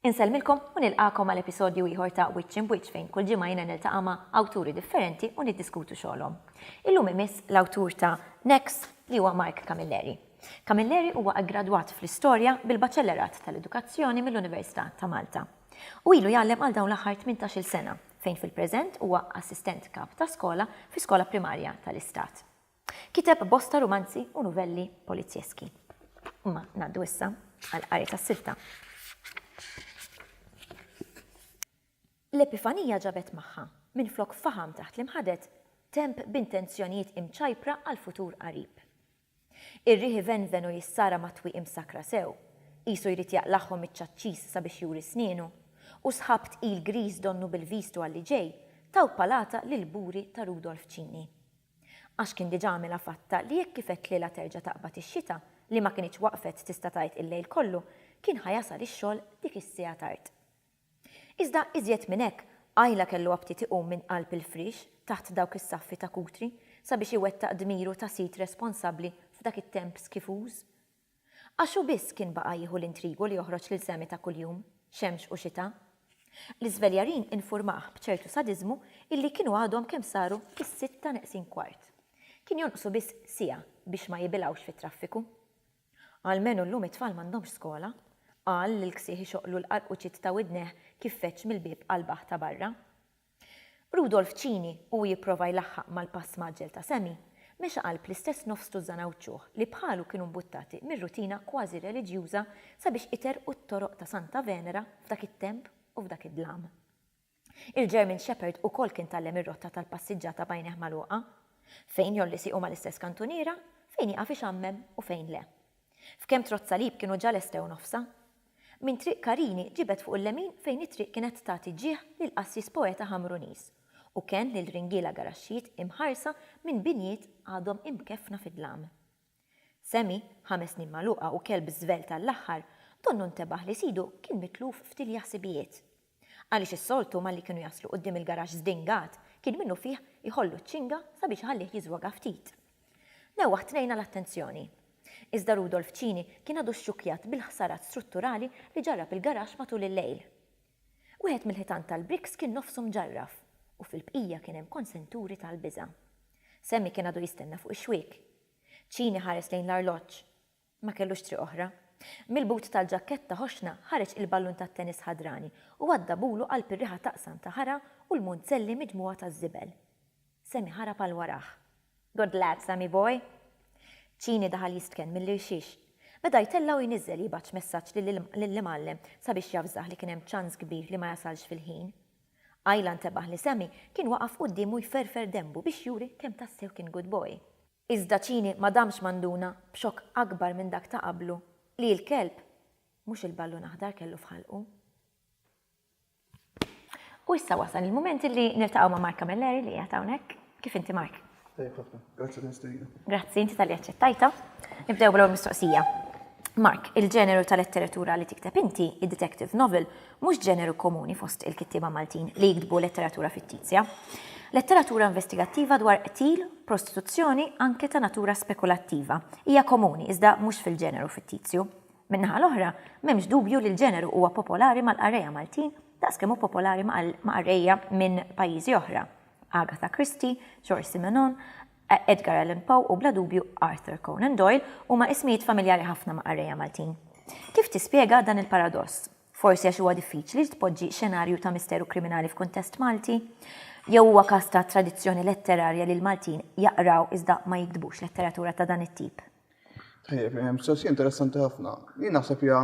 Insellmilkom u nilqakom għal episodju ieħor ta' Wiċċ in Wiċċ fejn kull ġimgħa jiena niltaqa' ma' awturi differenti u niddiskutu xogħolhom. Illum imiss l-awtur ta' Next li huwa Mark Camilleri. Camilleri huwa aggradwat fl-Istorja bil-Baċellerat tal-Edukazzjoni mill-Università ta' Malta. Hu ilu jgħallem għal dawn l-aħħar tmintax-il sena, fejn fil-preżent huwa Assistent Kap ta' Skola fi skola primarja tal-Istat. Kiteb bosta rumanzi u nuvelli polizjeski. Imma ngħaddu issa għall-qari tas-silta. L-Epifanija ġabet magħha, minflok faħam taħt l-imħaded, temp b'intenzjonijiet imċajpra għall-futur qarib. Ir-riħ ivenven u jissara mat-twieqi msakkra sew, qisu jrid jaqlagħhom miċ-ċaċċis sabiex juri snienu, u sħab tqil griż donnu bil-viżtu għal li ġej, taw palata lill-buri ta' Rudolf Cini. Għax kien diġà għamilha fatta li jekk kif qed lilha terġa' taqbad ix-xita, li ma kinitx waqfet tista' tgħid il-lejl kollu, kien ħa jasal ix-xogħol dik is-siegħa tard. Iżda iżjed minn hekk, Ayla kellu aptit iqum minn qalb il-friex taħt dawk is-saffi ta' Kutri sabiex iwettaq dmiru ta' sid responsabbli f'dak it-temp skifuż. Għax hu biss kien baqa' jieħu l-intrigu li joħroġ lil Sammy ta' kuljum, xemx u xita. L-iżveljarin infurmah b'ċertu sadiżmu illi kienu għadhom kemm saru is-sitta neqsin kwart. Kien jonqsu biss siegħa biex ma jibilgħux fit-traffiku. Almenu llum it-tfal m'għandhomx skola, qal lill-ksieħ ixoqqlu l-qarquċiet ta' widnejh kif feġġ mill-bieb qalbah ta' barra. Rudolf Cini, u hu jipprova jlaħħaq mal-pass mgħaġġel ta' Sammy, mexa qalb l-istess nofs tużżan Għawdxuh li bħalu kienu mbuttati mir-rutina kważi reliġjuża sabiex iterrqu t-toroq ta' Santa Venera f'dak it-temp u f'dak id-dlam. Il-German Shepherd ukoll kien tgħallem ir-rotta tal-passiġġata b'għajnejh magħluqa. Fejn jgħolli siequ mal-istess kantuniera, fejn jieqaf ixammem u fejn le. F'kemm trott salib kienu ġa lestew nofsha. Minn Triq Karini ġibed fuq il-lemin fejn it-triq kienet tagħti ġieħ lil qassis poeta Ħamruniż u kenn lil ringiela garaxxijiet imħarsa minn binjiet għadhom imkeffna fid-dlam. Semi, ħames snin magħluqa u kelb żvelt għall-aħħar, donnu ntebaħ li sidu kien mitluf f'tilja ħsibijiet. Għaliex is-soltu malli kienu jaslu quddiem il-garaxx żdingat, kien minnufih iħollu ċ-ċinga sabiex iħallih jiżwoga ftit. Newwaħ tnejna l-attenzjoni. Iżda Rudolf Cini kien għadu xxukkjat bil-ħsarat strutturali li ġarrab il-garaxx matul il-lejl. Wieħed mill-ħitan tal-bricks kien nofsu mġarraf u fil-bqija kien hemm konsenturi tal-biża'. Sammy kien għadu jistenna fuq ix-xwiek. Cini ħares lejn l-arloġġ. Ma kellux triq oħra. Mill-but tal-ġakketta ħoxna ħareġ il-ballun tat-tennis ħadrani u għadda bulu qalb ir-riħa taqsam ta' ħara u l-munzelli miġmugħa taż-żibel. Sammy ħarab għal warah. Good lad, Sammy boy! Ċini daħal jistken mill-irxix. Beda jtella' u jniżżel jibgħatx messaġġ lill-imgħallem sabiex javżah li kien hemm ċans kbir li ma jasalx fil-ħin. Ayla ntebaħ li Sammy kien waqaf quddiemu jferfer denbu biex juri kemm tassew kien good boy. Iżda Cini ma damx ma nduna, b'xokk akbar minn dak ta' qablu, li l-kelb, mhux il-ballun aħdar kellu f'ħalqu. U issa wasal il-mument illi niltaqgħu ma' Mark Camilleri li qiegħed hawnhekk. Kif inti Mark? Tajjeb ħafna. Grazzi tal-istedina. Grazzi inti talli aċċettajtha. Nibdew bl-ewwel mistoqsija. Mark, il-ġeneru tal-letteratura li tikteb inti, id-detective novel, Mhux ġeneru komuni fost il-kittieba Maltin li jiktbu letteratura fittizja. Letteratura investigattiva dwar qtil, prostituzzjoni, anke ta' natura spekulattiva, hija komuni iżda mhux fil-ġeneru fittizju. Min-naħa l-oħra, m'hemmx dubju li l-ġeneru huwa popolari mal-qarrejja Maltin daqs kemm hu popolari ma' qarrejja minn pajjiżi oħra, Agatha Christie, George Simenon, Edgar Allan Poe u bla dubju Arthur Conan Doyle huma ismijiet familjari ħafna ma' qarrejja Maltin. Kif tispjega dan il-paradoss? Forsi għax huwa diffiċli li tpoġġi xenarju ta' misteru kriminali f'kuntest Malti? Jew huwa każ ta' tradizzjoni letterarja li l-Maltin jaqraw iżda ma jiktbux letteratura ta' dan it-tip? Tajjeb, mistoqsija interessanti ħafna. Jien naħseb hija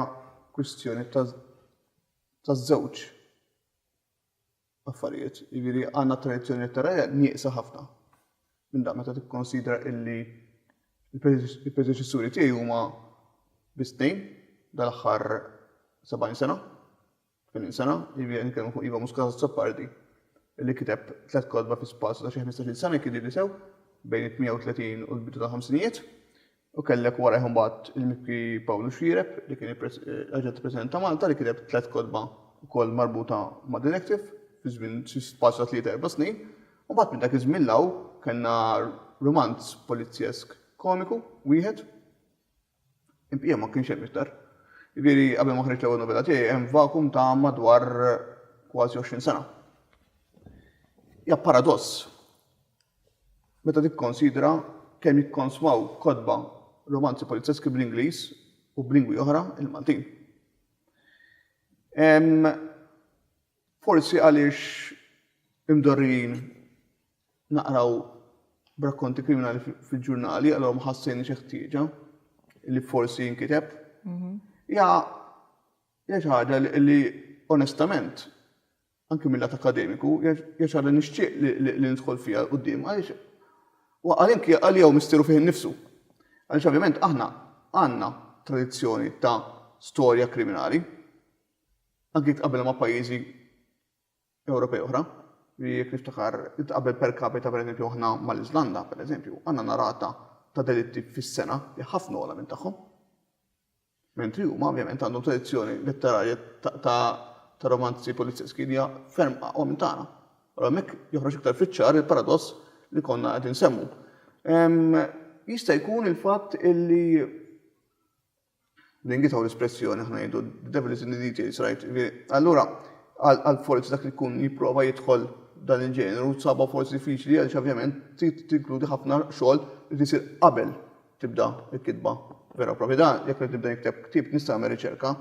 kwistjoni taż-żewġ. affarijiet. Jiġifieri għandna tradizzjoni letteraria nieqsa ħafna minn dan meta tikkonsidra illi l-predeċessuri tiegħi huma biss tnejn dal-aħħar 70 sena, 80 sena, jiġifieri nitkellmu fuq Iva Muscat Azzopardi li kiteb tliet kotba fi spazju ta' xi 15-il sena jekk idhirli sew, bejn it-38 u l-bidu tal-ħamsinijiet, U kellek warajh imbagħad il-Mibki Pawlu Xiereb li kien Aġent il-President ta' Malta li kiteb tliet kotba wkoll marbuta ma' din il-ktif fi żmien xi spazju ta' tlieta erba' snin. U mbagħad minn dak iż-żmien 'l hawn kellna rumanz polizjesk komiku wieħed. Il-bqija ma kienx hemm iktar. Jiġifieri qabel ma ħriġt l-ewwel novella tiegħi hemm vakum ta' madwar kważi għoxrin sena. Hija paradoss. meta tikkonsidra kemm jikkonsmaw kotba romanzi polizjeski bl-Ingliż u b'lingwi oħra, il-Maltin. Hemm forsi għaliex imdorrijin naqraw b'rakkonti kriminali fil-ġurnali, allura ma ħassejniex il-ħtieġa li forsi jinkiteb. Hija xi ħaġa li onestament anki mil-lat akademiku, hija xi ħaġa li nixtieq li nidħol fiha 'l quddiem għaliex huwa anki għalija hu misteru fih innifsu. Għaliex ovvjament aħna għandna tradizzjoni ta' storja kriminali, anki jekk tqabbel ma' pajjiżi Ewropej oħra, li jekk niftakar tqabbel per capita pereżempju aħna mal-Iżlanda pereżempju, għandna rata ta' delitti fis-sena li ħafna ogħla minn tagħhom. Mentri huma, ovvjament, għandhom tradizzjoni letterarja ta' ta' romanzi polizjeski li hija ferm aqwa minn tagħna. Allura hemmhekk joħroġ iktar fiċ-ċar il-paradoss li konna qed insemmu. Jista' jkun il-fatt illi ningitaw l-espressjoni aħna ngħidu the devil is in the details, right? Allura għal forsi dak li jkun jipprova jidħol dan il-ġeneru sabha forsi diffiċli għaliex ovvjament tinkludi ħafna xogħol li tisir qabel tibda l-kitba vera propja. Da, jekk qed nibda nikteb ktieb nista' nagħmel riċerka,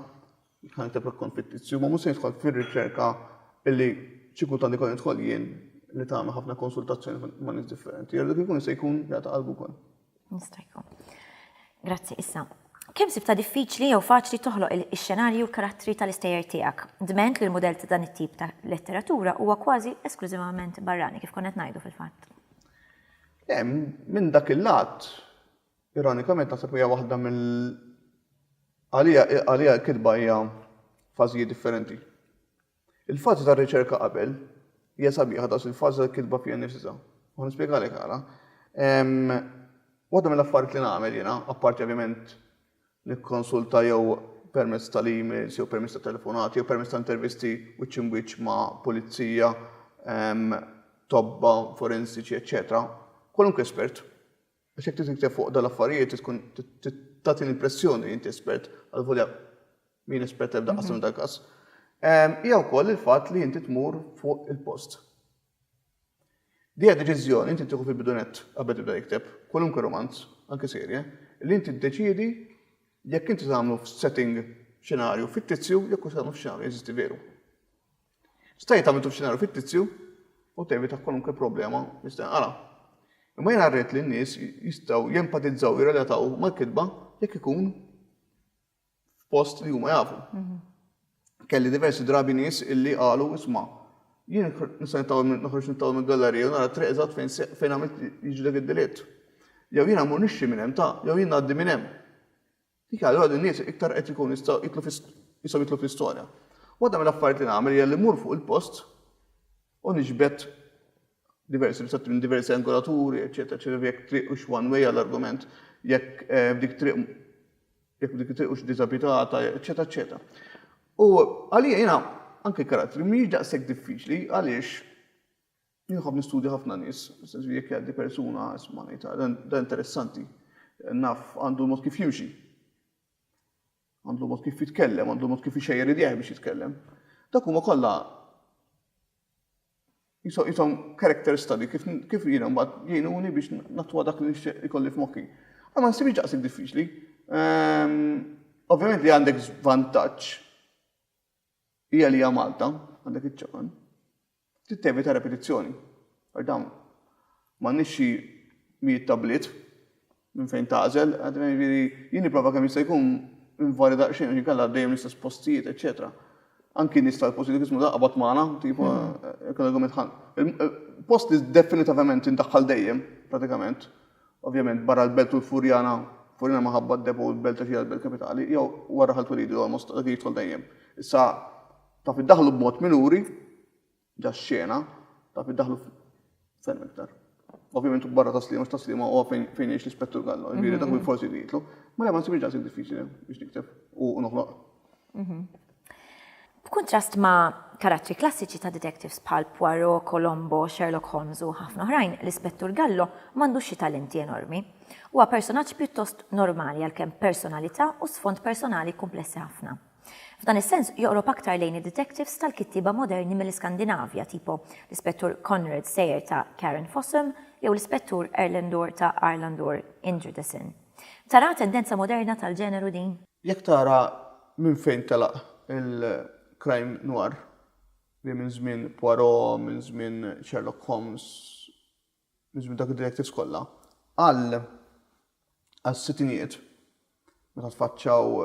ħa nikteb rakkont fittizzju, ma mhux se nidħol fir-riċerka illi xi kultant ikun nidħol jien li tagħmel ħafna konsultazzjoni ma' nies differenti. Jgħidu kif ikun se jkun jagħta qalbu wkoll. Nista' jkun. Grazzi issa. Kemm sibta diffiċli jew faċli toħloq ix-xenarji u l-karattri tal-istejjer tiegħek? Dment li l-mudell ta' dan it-tip ta' letteratura huwa kważi esklużivament barrani, kif konna qed ngħidu fil-fatt. Minn dak il-lat, ironikament naħseb hija waħda mill għaliha l-kitba hija fażijiet differenti. Il-fażi tar-riċerka qabel hija sabiħa daqs il-fażi tal-kitba fiha nnifisha. U nispjegalek għala. Waħda mill-affarijiet li nagħmel jiena, apparti ovvjament nikkonsulta jew permezz tal-emails jew permezz ta' telefonati jew permezz ta' intervisti wiċċ imbwiċċ ma' pulizija, tobba, forensiċi, eċċetera, kwalunkwe espert. Għax jekk trid tikteb fuq dan l-affarijiet trid tkun trid tagħti l-impressjoni li inti espert, għalvolja mien espert ebda qasam dal-każ. Hija wkoll il-fatt li inti tmur fuq il-post. Din hija deċiżjoni li inti tieħu fil-bidunett qabel tibda tikteb kwalunkwe rumanz, anki serje, li inti ddeċiedi jekk inti se tagħmlu f'setting, xenarju, fittizzju jew se tagħmlu f'xenarju jeżisti veru. Sta jekk tagħmiltu f'xenarju fittizzju u tevita kwalunkwe problema li se tinqara'. Imma jiena rrid li n-nies jistgħu jempatizzaw u jirrelataw mal-kitba jekk ikun f'post li huma jafu. Kelli diversi drabi nies illi qalu isma' jien nista' nittawwel noħroġ nittawwel mill-gallerija u nara triq eżatt fejn fejn għamilt jiġi dak id-delitt. Jew jiena mmur nixxi minn hemm ta' jew jien ngħaddi minn hemm. Dik allura din nies iktar qed ikun jistgħu jitlu jistgħu jitlu fl-istorja. Waħda mill-affarijiet li nagħmel hija li mmur fuq il-post u niġbed diversi ritratt minn diversi angolaturi, eċetera, eċetera, jekk triq u one way għall-argument, jekk eh, f'dik triq Jekk dik hux diżabitata, eċċetera eċċetera. U għalija jiena anke karattri mhijiex daqshekk diffiċli għaliex jinħobb nistudja ħafna nies, sensu jekk jgħaddi persuna isma' ngħid ah, dan interessanti, naf għandu mod kif jimxi. Għandu mod kif jitkellem, għandu mod kif ixejjer idejh biex jitkellem. Dak huma kollha Jisom character study kif jiena mbagħad jgħinuni biex nattwa dak li nixtieq ikolli f'moħħi. Għal ma nsibx daqshekk diffiċli. Ehm, ovvjament li għandek vantaġġ hija li hija Malta, għandek iċ-ċaqan. Tittevita repetizzjoni. Għax dawn m'għandniex xi mijiet tabliet minn fejn tagħżel, jiġifieri jien nipprova kemm jista' jkun nvarja daqsxejn għax inkella dejjem l-istess postijiet, eċċetera. Anki nies tal-positiviżmu taqbad magħna, tipo jekk l-argument ħa post li definitavament indaħħal dejjem, pratikament, ovvjament barra l-Belt u l-Furjana, Furjana minħabba d-depo u l-Belt għax hija l-Belt Kapitali, jew wara Ħal Twelidi, almost dak jidħol dejjem. Issa taf iddaħħlu b'mod minuri, Ġa xena, taf iddaħħlu ferm iktar. Ovvjament u barra taslima, x'taslima huwa fejn fejn jgħix l-Ispettur Gallo, jiġifieri dak forsi li jitlu. Ma le ma nsibx daqshekk diffiċli biex nikteb u noħloq. B'kuntrast ma' karattri klassiċi ta' detectives bħal Poirot, Colombo, Sherlock Holmes u ħafna oħrajn, l-Ispettur Gallo m'għandux xi talenti enormi. Huwa personaġġ pjuttost normali għalkemm b'personalità u sfond personali kumplessi ħafna. F'dan is-sens, joqrob aktar lejn id-detectives tal-kittieba moderni mill-Iskandinavja, tipo l-Ispettur Konrad Sejer ta' Karen Fossum jew l-Ispettur Erlendur ta' Arlandur Indridesen. Taraha tendenza moderna tal-ġeneru din? Jekk tara minn fejn telaq il-crime noir, li minn żmien Poirot, minn żmien Sherlock Holmes, niżlu dak id-directives kollha, għal għas-sittinijiet meta tfaċċaw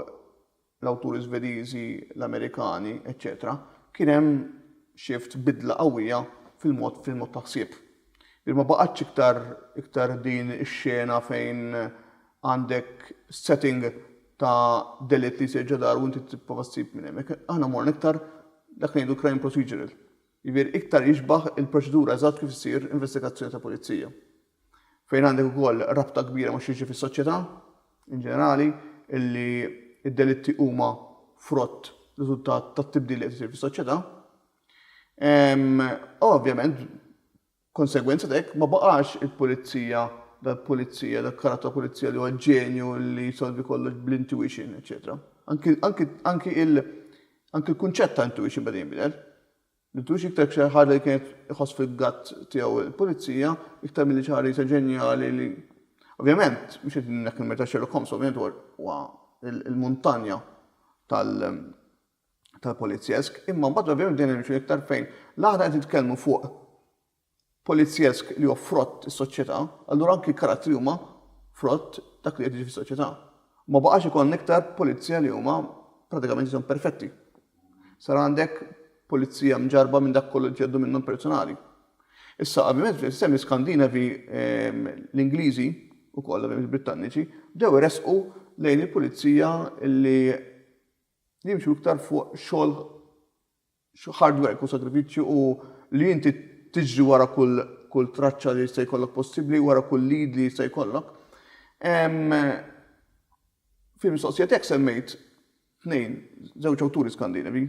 l-awturi Żvediżi, l-Amerikani, eċċetera, kien hemm shift, bidla qawwija fil-mod fil-mod ta' ħsieb. Ġifieri ma baqgħetx iktar iktar din ix-xena fejn għandek setting ta' delitt li jsir ġo dar u inti tipprova ssib minn hemm. Aħna morna iktar dak li ngħidu crime procedural. Jiġifieri iktar jixbah il-proċedura eżatt kif issir investigazzjoni ta' pulizija. Fejn għandek ukoll rabta kbira ma' x'jiġri fis-soċjetà in ġenerali, illi d-delitti huma frott, riżultat tat-tibdil li qed isir fis-soċjetà. Ovvjament B'konsegwenza t'hekk, ma baqax il-pulizija, dak pulizija, dak karatt ta' pulizija li huwa ġenju li jsolvi kollox bl-intuition, eċċetera. Anki, anki, anki il, anki l-kunċett ta' intuition beda jinbidel. L-intuition iktar xi ħaġa li kienet iħoss fil-gut tiegħu l-pulizija, iktar milli xi ħaġa li sa ġenjali li. Ovvjament, mhux qed ngħidlek il-merita Sherlock Holmes, ovvjament huwa, huwa il-muntanja tal, tal-polizjesk, imma mbagħad ovvjament bdejna nimxu iktar fejn la aħna qed nitkellmu fuq polizjesk li huwa frott is-soċjetà, allura anki l-karattri huma frott dak li qed jiġi fis-soċjetà. Ma baqax ikollna iktar pulizija li huma pratikament jisom perfetti. Sar għandek pulizija mġarba minn dak kollu li ġeddu minnhom personali. Issa, ovvjament, fis-sistemi Skandinavi ehm, l-Ingliżi u kollha il-Britanniċi bdew resqu lejn il-pulizija li Jimxu iktar fuq xogħol hard work u sagrifiċċju u li inti tiġri wara kull traċċa li jista' jkollok possibbli, wara kull lead li jista' jkollok. Fil-mistoqsija tiegħek semmejt tnejn, żewġ awturi Skandinavi,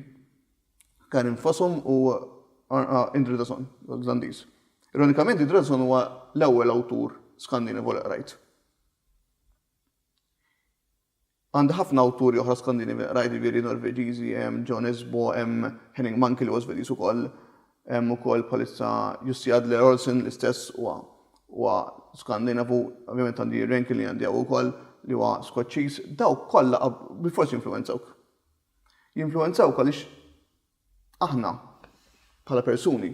Karin Fossum u Indridason, Olandiż. Ironikament, Indridason huwa l-ewwel awtur Skandinavu li qrajt. Għandha ħafna awturi oħra Skandinavi li qrajt, jiġifieri Norveġiżi, hemm John Esbo, hemm Henning Mankell li huwa Svediż ukoll, hemm ukoll bħalissa Jussi Adler-Olsen l-istess huwa huwa Skandinavu, ovvjament għandi Irene Killian tiegħu ukoll li huwa Skoċċiż, dawk kollha bilfors jinfluwenzawk. Jinfluwenzawk għaliex Aħna, bħala persuni,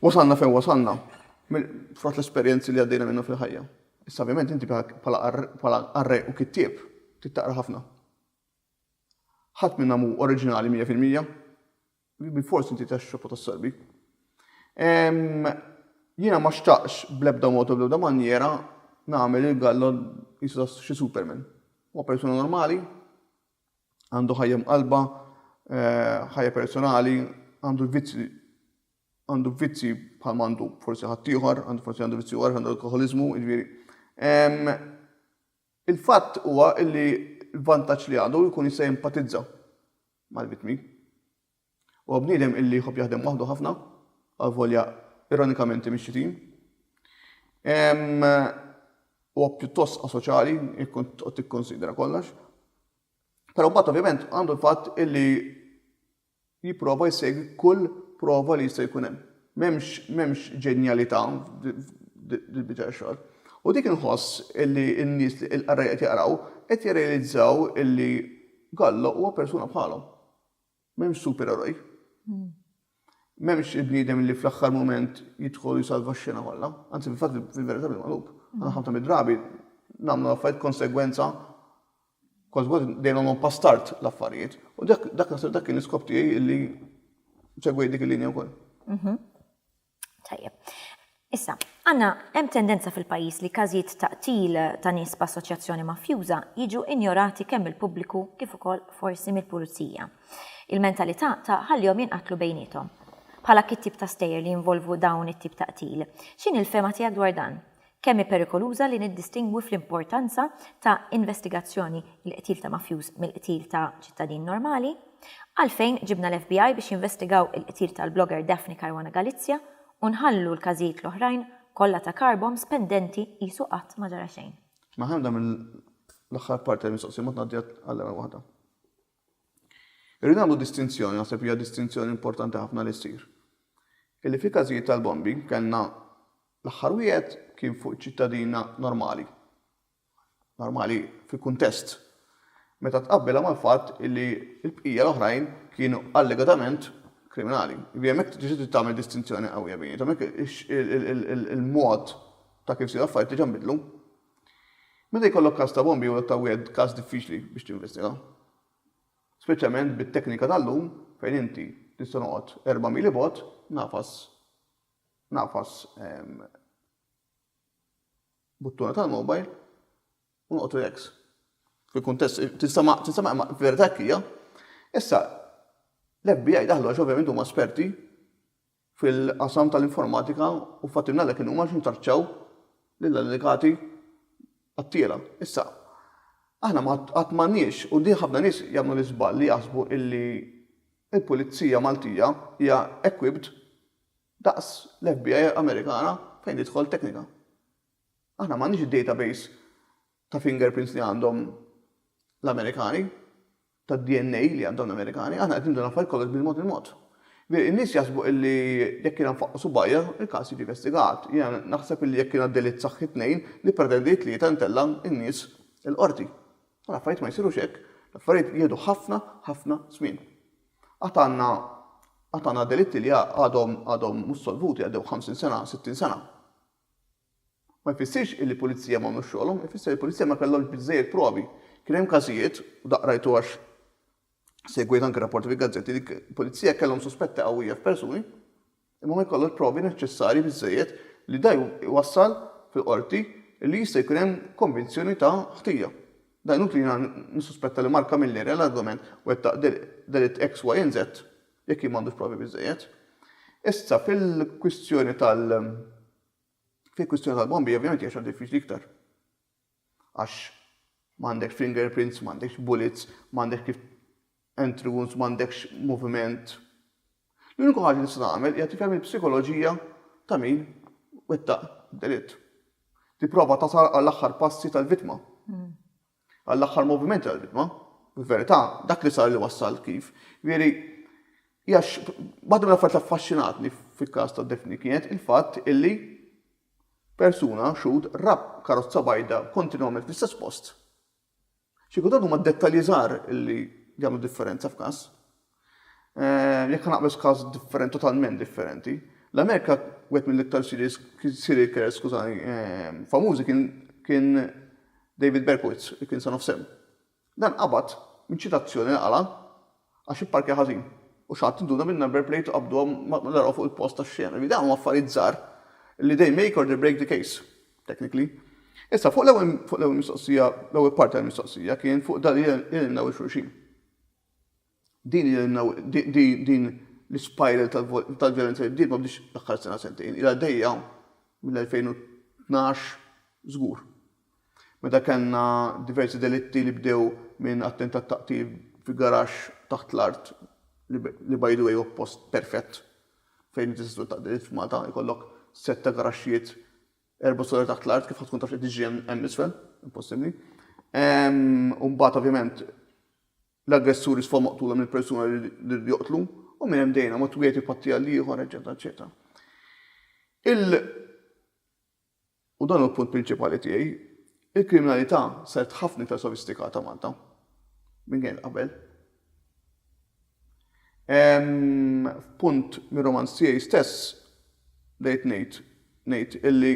wasalna fejn wasalna frott l-esperjenzi li għaddejna minnu fil-ħajja. Issa ovvjament inti bħala qarrej u kittieb tittaqra ħafna. Ħadd minna mu oriġinali 100%, bil forsi inti tax xofu tas-sorbi. Jiena ma xtaqx bl-ebda mod u bl-ebda manjera nagħmel il-gallo jisu xi superman. Huwa persuna normali, Għandu ħajja mqallba, ħajja personali, għandu vizzji għandu vizzji bħal għandu forsi ħaddieħor, għandu forsi għandu vizzji għar, għandu alkoholiżmu, jiġifieri. Il-fatt huwa li l-vantaġġ li għadu jkun jista' jimpatizza mal-vittmi. Huwa bniedem illi jħobb jaħdem waħdu ħafna, għalvolja ironikament imexxi tim. Huwa pjuttost asoċjali, jkun tikkonsidra kollox. Però mbagħad ovvjament għandu l-fatt illi jipprova jsegwi kull prova li jista' jkun hemm. M'hemmx ġenjalità fil-biċċa xogħol. U dik inħoss illi n-nies li l-qarrej qed jaqraw qed jirrealizzaw illi Gallo huwa persuna bħalhom. M'hemmx supereroj. M'hemmx il-bniedem li fl-aħħar mument jidħol jisalva x-xena kollha. Anzi, fil-fatt fil-verità bil-magħlub. Għana ħafna mid-drabi nagħmlu l-affarijiet konsegwenza kważi kważi dejjem nagħmlu pastart l-affarijiet. U dak naħseb dak kien l-iskop tiegħi li segwejt dik il-linja wkoll. Mhm. Tajjeb. Issa, għanna hemm tendenza fil-pajjiż li każijiet ta' qtil ta' nies b'assoċjazzjoni mafjuża jiġu injorati kemm mill-pubbliku kif ukoll forsi mill-pulizija. Il-mentalità ta' ħallihom jinqatlu bejniethom. Bħala kit tip ta' stejjer li jinvolvu dawn it-tip ta' qtil. X'inhi l-fehma tiegħek dwar dan? Kemm hi perikoluża li niddistingwi fl-importanza ta' investigazzjoni il-qtil ta' mafjuż mill-qtil ta' ċittadin normali? Għalfejn ġibna l-FBI biex jinvestigaw il-qtil tal-blogger Daphne Caruana Galizia u nħallu l-każijiet l-oħrajn kollha ta' car bombs pendenti qisu qatt ma ġara xejn? Maħemda minn l-aħħar parti tal-mistoqsija ma tngħaddi għal ebda waħda. Irrid nagħmlu distinzjoni, naħseb li hija distinzjoni importanti ħafna li ssir, illi fil-każijiet tal-bombi kellna l-aħħar wieħed kien fuq ċittadina normali, normali fi kuntest, meta tqabbilha mal-fatt illi l-bqija l-oħrajn kienu allegatament kriminali. Jiġifieri hemmhekk trid tagħmel distinzjoni qawwija bejniethom, hemmhekk il-mod ta' kif sew affarijiet diġà nbidlu, Meta jkollok każ ta' bombi huwa ta' wieħed każ diffiċli biex tinvestiga. Speċjalment bit-teknika tal-lum fejn inti tista' noqgħod erba' mili bogħod nagħfas nagħfas buttuna tal-mobile u noqgħod relax. Fil-kuntest tista' ma tista' ma verità hekk hija. Issa l-FBI daħlu għax ovvjament huma esperti fil-qasam tal-informatika u fattibni għalhekk in-numru għaliex intraċċaw lill-allegati qattiela. Issa, aħna qatt m'għandniex, u din ħafna nies jagħmlu l-iżball li jaħsbu illi l-Pulizija Maltija hija equipped daqs l-FBI Amerikana fejn tidħol teknika. Aħna m'għandniex id-database ta' fingerprints li għandhom l-Amerikani. tad-DNA li għandhom l-Amerikani, aħna qed nieħdu l-affarijiet kollox bil-mod il-mod. Veri, in-nies jaħsbu illi jekk jiena nfaqqa' subgħajja, il-każ jiġi investigat. Jiena naħseb illi jekk jiena delitt saħħi tnejn, nippretendi tlieta ntella' n-nies il-Qorti. U l-affarijiet ma jsirux hekk. L-affarijiet jieħdu ħafna, ħafna żmien. Għad għandna, għad għandna delitti li għadhom, għadhom mhux solvuti, għaddew ħamsin sena, sittin sena. Ma jfissirx illi l-Pulizija ma għamlux xogħolhom, ifisser li l-Pulizija ma kellhomx biżżejjed provi. Kien hemm każijiet, u daqq rajtu għax segwejt anke rapporti fil-gazzetti, li l-Pulizija kellhom suspetti qawwija f'persuni, imma ma jkollhomx provi neċċessarji biżżejjed li da jwassal fil-Qorti illi jista' jkun hemm konvinzjoni ta' ħtija. Da inutli jiena nissuspetta li Mark Camilleri, allegatament, wettaq delitt X, Y and Z, jekk jien m'għandux provi biżżejjed. Issa, fil-kwistjoni tal. Fi kwistjoni tal-bombi ovvjament hija xogħol diffiċli iktar. Għax m'għandekx fingerprints, m'għandekx bullets, m'għandekx kif entry wounds, m'għandekx moviment. L-uniku ħaġa li tista' tagħmel hija tifhem il-psikoloġija ta' min wettaq delitt. Tipprova tasal għall-aħħar passi tal-vittma. għall-aħħar movimenti tal-bidma, fil-verità, dak li sar li wassal kif, jiġifieri, hija waħda mill-affarijiet li affaxxinatni fil-każ ta' Daphne kienet il-fatt illi persuna, xhud, ra karozza bajda kontinwament fl-istess post. Xi kultant huma d-dettalji żgħar illi jagħmlu differenza f'każ. Jekk ħanaqbeż każi differenti, totalment differenti, l-Amerika wieħed mill-iktar serial killers, skużani, famużi kien kien David Berkowitz, li kien Son of Sam. Dan qabad minn ċitazzjoni li qala' għax ipparkja ħażin u xi ħadd induna bin-number plate u qabduha meta raw fuq il-post tax-xena. Ġifieri dawn huma affarijiet żgħar li they make or they break the case, technically. Issa, fuq l-ewwel mistoqsija, l-ewwel parti tal-mistoqsija kien fuq dan li nillimnaw lil xulxin. Din din l-ispiral tal-vjolenza li bdiet ma bdietx l-aħħar sena sentejn, ilha għaddejja mill-2012 żgur. Meta kellna diversi delitti li bdew minn attentat ta' qtil fi garaxx taħt l-art li by the way huwa post perfett fejn inti tista' twettaq delitt f'Malta, ikollok sett ta' garaxxijiet Erba' sura taħt l-art kif tkun taf li tiġri hemm isfel, impossibbli. U mbagħad ovvjament l-aggressuri sfaw maqtula mill persuna li joqtlu u minn hemm dejna ma twieti patti għal ieħor, eċetera, eċetera. Il u dan hu l-punt prinċipali tiegħi, il-kriminalità saret ħafna iktar sofistikata Malta minn kienet qabel. F'punt mir-romanz tiegħi stess bdejt ngħid ngħid illi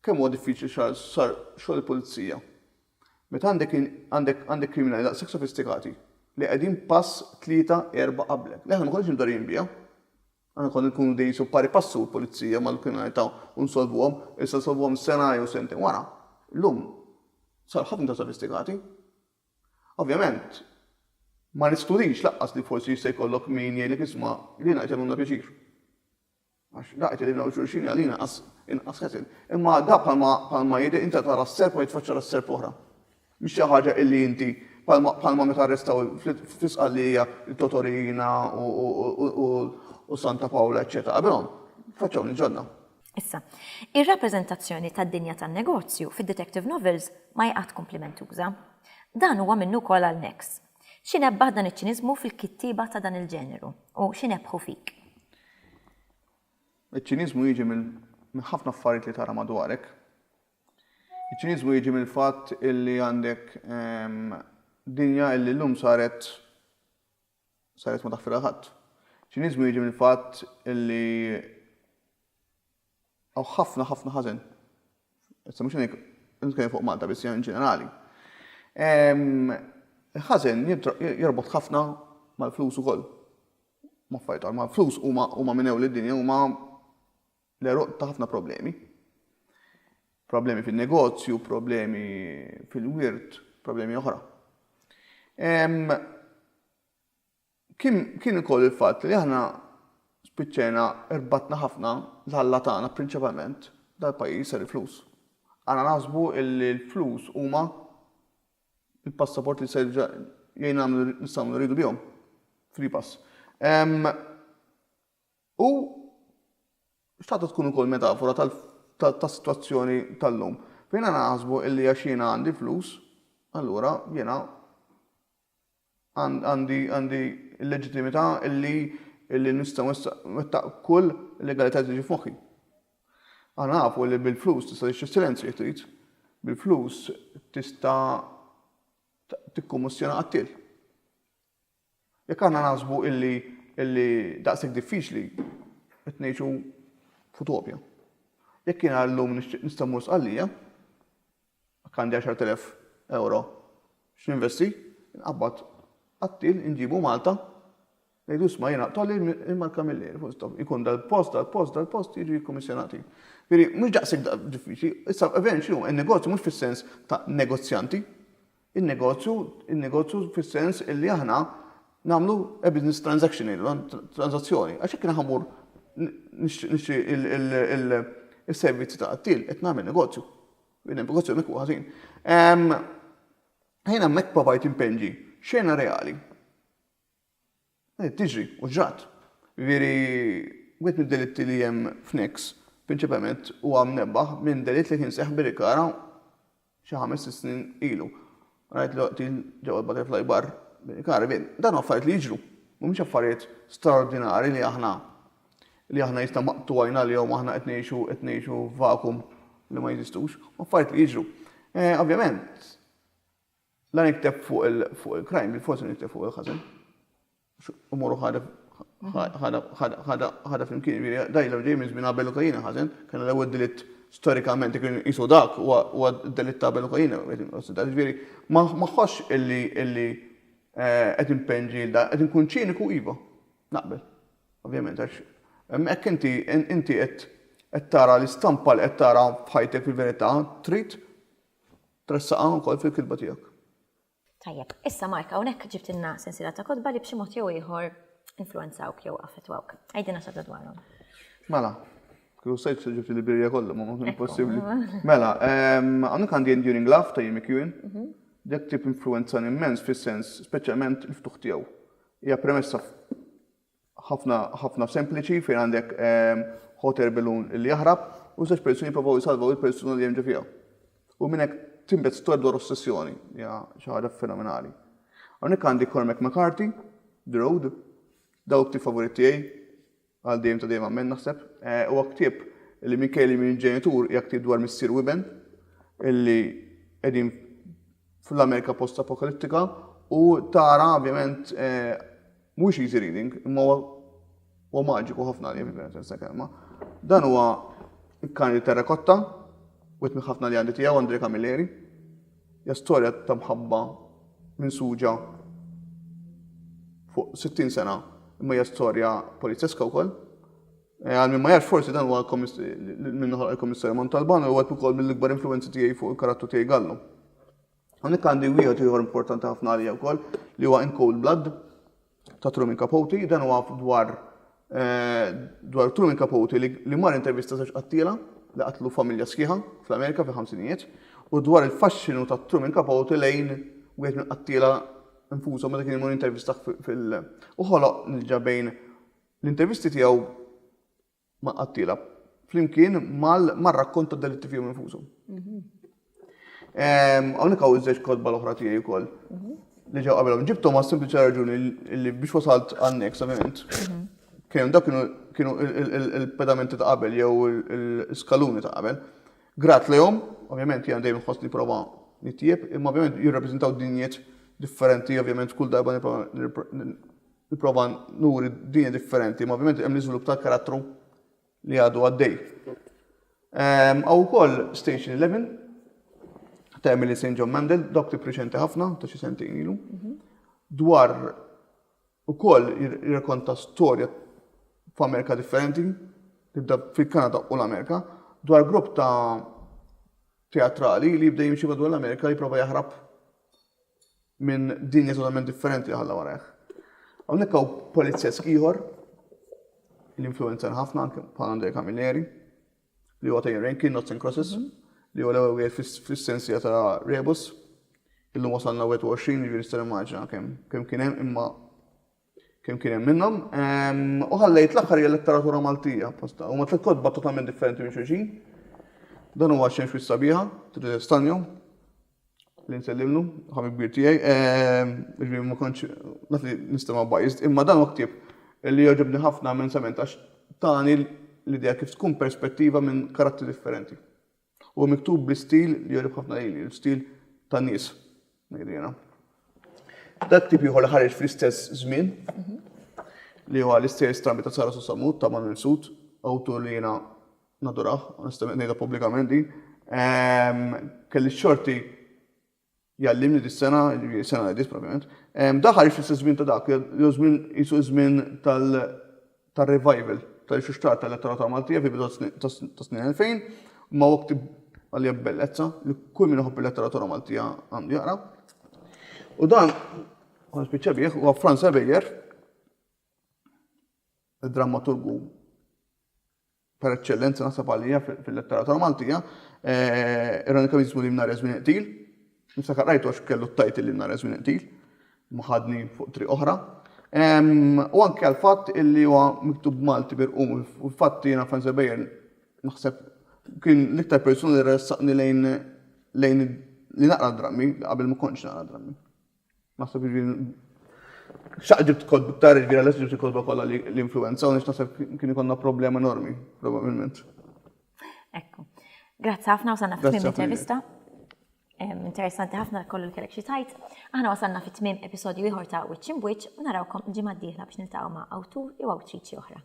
kemm huwa diffiċli xar sar xogħol il-pulizija. Meta għandek għandek għandek kriminali daqshekk sofistikati li qegħdin pass tlieta erba' qablek. Li aħna ma konniex imdorrijin biha. Aħna konna nkunu dejjem jisu pari passu l-pulizija mal-kriminalità u nsolvuhom, issa nsolvuhom sena jew sentejn wara. Illum sar ħafna iktar sofistikati. Ovvjament, ma neskludix lanqas li forsi jista' jkollok min jgħidlek isma' lilna qed jagħmlulna pjaċir. Għax daqqa tgħidilna lil xulxin hi għalina inqas inqas ħesel. Imma da bħalma bħalma jidher inta tara s-serp u jitfaċċa ra serp oħra. Mhix xi ħaġa illi inti bħalma bħalma meta arrestaw fl-Isqallija lil Toto Riina u Santa Pawla eċċetera qabilhom faċċawni ġodda. Issa, ir-rappreżentazzjoni tad-dinja tan-negozju fid-detective novels ma hi qatt kumplimentuża. Dan huwa minnu wkoll għal Nex. Xi nebbaħ dan iċ-ċiniżmu fil-kittieba ta' dan il-ġeneru u xi nebbħu fik? Iċ-ċiniżmu jiġi minn ħafna affarijiet li tara madwarek. Iċ-ċiniżmu jiġi mill-fatt illi għandek dinja illi llum saret saret ma taħfilha l-ħadd. Ċiniżmu jiġi mill-fatt li hawn ħafna ħafna ħażen. Issa mhux hekk nitkellem fuq Malta biss in ġenerali. Ehm, il-ħażen jorbot ħafna mal-flus ukoll. Ma fajtar, ma flus huma huma minn ewl id-dinja huma L-għeruq ta' ħafna problemi. Problemi fin-negozju, problemi fil-wirt, problemi oħra. Kien ukoll il-fatt li aħna spiċċajna rbatna ħafna l-ħalla tagħna prinċipalment dal-pajjiż ser il-flus. Għana naħsbu li l-flus huma il-passaport li ser jgħin nagħmlu nistgħu nridu bihom. Free pass. U xtaqtha tkun ukoll metafora tas-sitwazzjoni tal-lum, fejn aħna naħsbu li għax jiena għandi flus, allura jiena għandi għandi l-leġittimità li li nista' nwettaq kull legalità li tiġi f'moħħi. Aħna nafu li bil-flus tista' tixtri s-silenzju jekk trid, bil-flus tista' tikkummisjona qattiel. Jekk aħna naħsbu illi illi daqshekk diffiċli qed ngħixu f'utopja. Jekk jiena llum nixtieq nista' mmur Sqallija, jekk għandi 10,000 ewro x'ninvesti, inqabbad qattiel inġibu Malta, ngħidu isma' jiena tolli l-marka mill-ajr, full stop, ikun dal-post, dal-post, dal-post jiġu jikkummissjonati. Jiġifieri mhux daqshekk diffiċli, issa ovvjament x'inhu n-negozju mhux fis-sens ta' negozjanti, In-negozju, in-negozju fis-sens illi aħna nagħmlu a business transaction ilna, transazzjoni. Għax jekk jiena mmur nixtri il-servizzi ta' qattiel qed nagħmel negozju. Il-negozju hemmhekk huwa ħażin. Jiena hemmhekk provajt impenġi xena reali. Qed tiġri, u ġrat. Jiġifieri, wieħed mid-delitti li hemm f'Nix, prinċipalment huwa mnebbaħ minn delitt li kien seħħ Birikara xi ħames, sitt snin ilu. Rajt li qtil ġewwa l-Butterfly Bar, Birikara. Jiġifieri, dawn huma affarijiet li jiġru. Mhumiex affarijiet straordinari li aħna li aħna jista' maqtu għajn għalihom u aħna qed ngħixu qed ngħixu f'vakum li ma jeżistux. Huma affarijiet li jiġru. Ovvjament, La nikteb fuq il-krajm, bil-fors li nikteb fuq il-ħażen. Umuru ħadef ħadha flimkien, jiġifieri dajla ġej minn żmien Abel u Kajin ħażen, kien l-ewwel delitt storikament kien qisu dak huwa d-delitt ta' Abel u Kajin qed ikkonsidrat. Jiġifieri ma ħossx illi eh, qed impenn ġielda, qed inkun ċiniku iva, naqbel. Ovvjament għax hemmhekk inti inti qed tara l-istampa li qed tara f'ħajtek fil-verità trid Tressaqha wkoll fil-kitba tiegħek. Tajjeb, issa Mark hawnhekk ġibtilna sensiela ta' kotba li b'xi mod jew ieħor influwenzawk jew affettwawk. Għidilna xi ħaġa dwarhom. Mela, kieku stajt ġibt il-Bibbja kollha ma ma kien possibbli. Mela, hawnhekk għandi Enduring Love ta' Jimmy Keown. Dak ktieb influwenzani mmens fis-sens speċjalment il-ftuħ tiegħu. Hija premessa ħafna ħafna sempliċi fejn għandek hot air balloon li jaħrab u żewġ persuni jipprovaw jsalvaw il-persuna li hemm ġo fiha. U minn hekk tinbet storja dwar ossessjoni, hija xi ħaġa fenomenali. Hawnhekk għandi Cormac McCarthy, The Road, dawk ktieb favorit tiegħi għal dejjem ta' dejjem għammen naħseb. Eh, huwa ktieb li minkejja li minn ġenitur hija ktieb dwar missier u iben illi qegħdin fl-Amerika post-apokalittika u tara ovvjament mhuwiex easy reading, imma huwa maġiku ħafna li fil-vera tinsa kelma. Dan huwa il-kan li terrakotta, witmi ħafna li għandi tiegħu Andre Camilleri. Ja storja ta' mħabba minn suġa fuq 60 sena imma hija storja polizzeska wkoll. Għal min ma jafx forsi dan huwa minn ħolq il-Kummissarju Montalban u wieħed ukoll mill-ikbar influwenzi tiegħi fuq il-karattru tiegħi Gallo. Hawnhekk għandi wieħed ieħor importanti ħafna għalija wkoll li huwa In Cold Blood ta' Truman Capote, dan huwa dwar eh, dwar Truman Capote li mar intervista żewġ qattiela li qatlu familja sħiħa fl-Amerika fi ħamsinijiet u dwar il-faxxinu ta' Truman Capote lejn wieħed minn qattiela infushom meta kien imur intervista fil- u ħoloq nilġa bejn L-intervisti tiegħu ma' qattiela flimkien mar-rakkont tad-delitti fihom infushom. Hawnhekk hawn iż-żewġ kotba l-oħra tiegħi wkoll li ġew qabelhom. Ġibthom għas sempliċi raġuni li biex wasalt għan-next ovvjament. Kien hemm dak kienu il-pedamenti ta' qabel jew l-skaluni ta' qabel. Grat lejhom, ovvjament jien dejjem ħossni prova nitjieb, imma ovvjament jirrappreżentaw dinjiet differenti, ovvjament kull darba Nipprova nuri dinja differenti, imma ovvjament hemm l-iżvilupp tal-karattru li għadu għaddej. Ehm, Għaw ukoll Station 11 ta' Emily St. John Mandel, dok li preċenti ħafna ta' xi sentejn ilu, mhm. dwar ukoll jirrakonta storja f'Amerika differenti, tibda fil-Kanada u l-Amerika, dwar grupp ta' teatrali li jibda jimxi madwar l-Amerika jipprova jaħrab minn dinja totalment differenti li ħalla warajh. Hawnhekk hawn polizjesk ieħor li influencer ħafna anke bħal Andre Camilleri li huwa ta' Rankin Notes and Crosses mhm. li huwa l-ewwel wieħed fis-sensija ta' Rebus. Illum wasalna 21 jiġri nista' nimmaġina kemm kemm kien hemm imma Kemm kien hemm minnhom. U ħallejt l-aħħar hija letteratura Maltija apposta. Huma tliet kotba totalment differenti minn xulxin. Dan huwa xemx wis sabiħa, Theresa Stanjo, li nsellimlu, ħabib kbir tiegħi. Ehm, ġifieri ma kontx naf li nistema' bajżt, imma dan huwa ktieb li jogħġobni ħafna immensament għax tani l-idea kif tkun perspettiva minn karattri differenti. Huwa miktub bi stil li jogħġob ħafna lili, l-stil tan-nies, ngħidu jiena. Dak ktieb ieħor li ħareġ fl-istess żmien li huwa l-istejjer strambi ta' Sara Susamut ta' Manuel Sud, awtur li jiena nadurah, onestament ngħidha pubblikament din. Ehm, kelli xorti jgħallimni dis-sena, jiġifieri s-sena li għaddiet propjament, daħal fl-istess żmien ta' dak, jew żmien qisu ż-żmien tar-revival tal-ixuxtrar tal-letteratura Maltija fil-bidu tas-snin 2000, ma' waqt għalija bellezza li kull min iħobb il-letteratura Maltija għandu jaqra. U dan, għan spiċċa bih, huwa Franz Ebejer, id-drammaturgu per eċċellenza naħseb għalija fil-letteratura Maltija, ironikament jismu Lim Nhar Żmien Iqtil. Niftakar qrajtu għax kellu t-tajt Lim Nhar Żmien Iqtil, ma ħadni fuq triq oħra. U anke għal fatt illi huwa miktub Malti birqum, u fatt jiena Franz Weber naħseb kien l-iktar persuna li ressaqni lejn li naqra drammi qabel ma kontx naqra drammi. Naħseb jiġifieri x'għal ġibt kotba iktar, jiġifieri għalhekk ġibt il-kotba kollha li influwenza u naħseb kien ikollna problema enormi probabilment. Ekku. Grazzi ħafna wasalna fi tmiem l-intervista. Interessanti ħafna kollu li kellek xi tajt. Aħna wasalna fi tmiem episodju ieħor ta' Wiċċ Imbwiċċ u narawkom il-ġimgħa d-dieħla biex niltaqgħu ma' awtur jew awtriċi oħra.